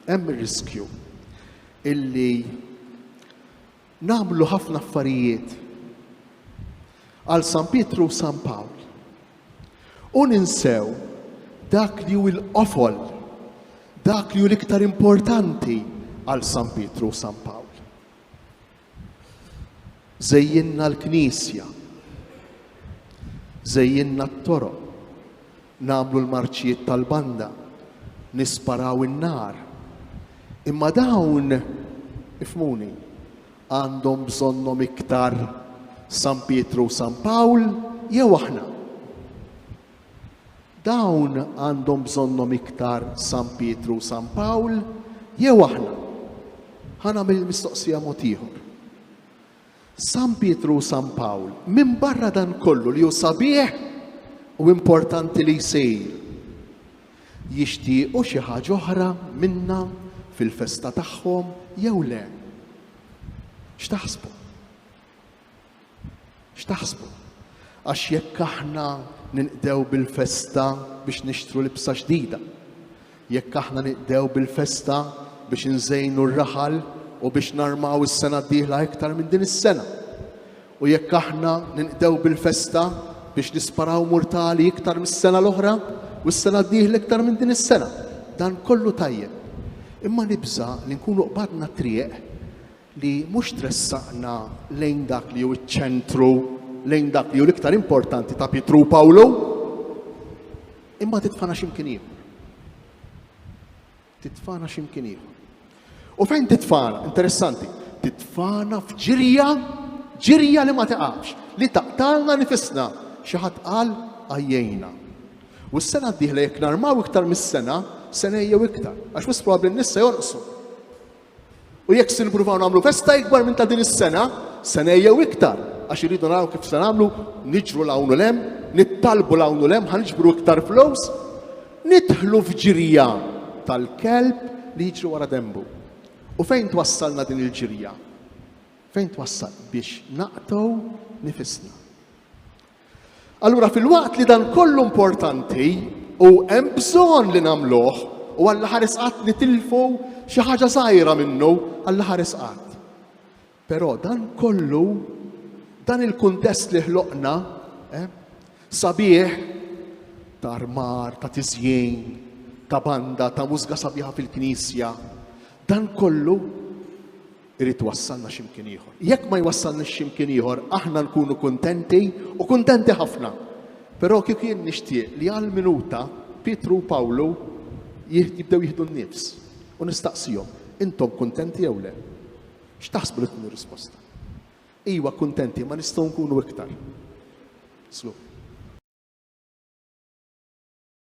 Hemm ir-riskju illi nagħmlu ħafna affarijiet għal San Pietru u San Pawl u ninsew dak li hu l-qofol, dak li hu l-iktar importanti għal San Pietru u San Pawl. Żejjinna l-knisja. Żejjinna t-toroq. Nagħmlu l-marċijiet tal-banda. Nisparaw in-nar. Imma dawn, ifhmuni, għandhom bżonnhom iktar San Pietru u San Pawl jew aħna? Dawn għandhom bżonnhom iktar San Pietru u San Pawl jew aħna? Ħa nagħmel il-mistoqsija mod ieħor. San Pietru u San Pawl, minbarra dan kollu li hu sabiħ u importanti li jsir, jixtiequ xi ħaġa oħra minna fil-festa tagħhom jew le? X'taħsbu? X'taħsbu? Għax jekk aħna ninqdew bil-festa biex nixtru libsa ġdida, jekk aħna ninqdew bil-festa biex inżejnu r-raħal u biex narmaw is-sena d-dieħla iktar minn din is-sena, u jekk aħna ninqdew bil-festa biex nisparaw murtali iktar mis-sena l-oħra u s-sena d-dieħla iktar minn din is-sena, dan kollu tajjeb. Imma nibża' li nkunu qbadna t-triq li mhux tressaqna lejn dak li hu ċ-ċentru, lejn dak li hu l-iktar importanti ta' Pietru u Pawlu, imma titfana x'imkien ieħor. Titfana x'imkien ieħor. U fejn titfana, interessanti, titfana f'ġirja, ġirja li ma taqax, li taqtalna nifisna, xi ħadd qal għajjejna. U s-sena d-dieħla jekk narmaw iktar mis-sena, sena jew iktar, għax wis probabbli n-nissa jonqsu. U jekk se nippruvaw nagħmlu festa ikbar minn ta' din is-sena, sena jew iktar, għax irridu naraw kif se nagħmlu, niġru 'l hawn u 'l hemm, nittalbu 'l hawn u 'l hemm, ħa niġbru iktar flus, nidħlu f'ġirja tal-kelb li jiġri wara denbu. U fejn twassalna din il-ġirja? Fejn twassal? Biex naqtgħu nifisna. Allura filwaqt li dan kollu importanti u hemm bżonn li nagħmluh u għall ħares qatt nitilfu xi ħaġa żgħira minnu għall ħares qatt. Però dan kollu dan il-kuntest li ħloqna eh, sabiħ ta' armar, ta' tiżjien, ta' banda, ta' mużga sabiħa fil-knisja, dan kollu Irid iwassalna xi mkien ieħor. Jekk ma jwassalniex xi mkien ieħor, aħna nkunu kuntenti u kuntenti ħafna. Però kieku jien nixtieq li għal minuta Pietru u Pawlu jibdew jieħdu n-nifs u nistaqsihom, intom kuntenti jew le? X'taħsbu li tkun ir-risposta? Iwa kuntenti, ma nistgħu nkunu iktar. Slu.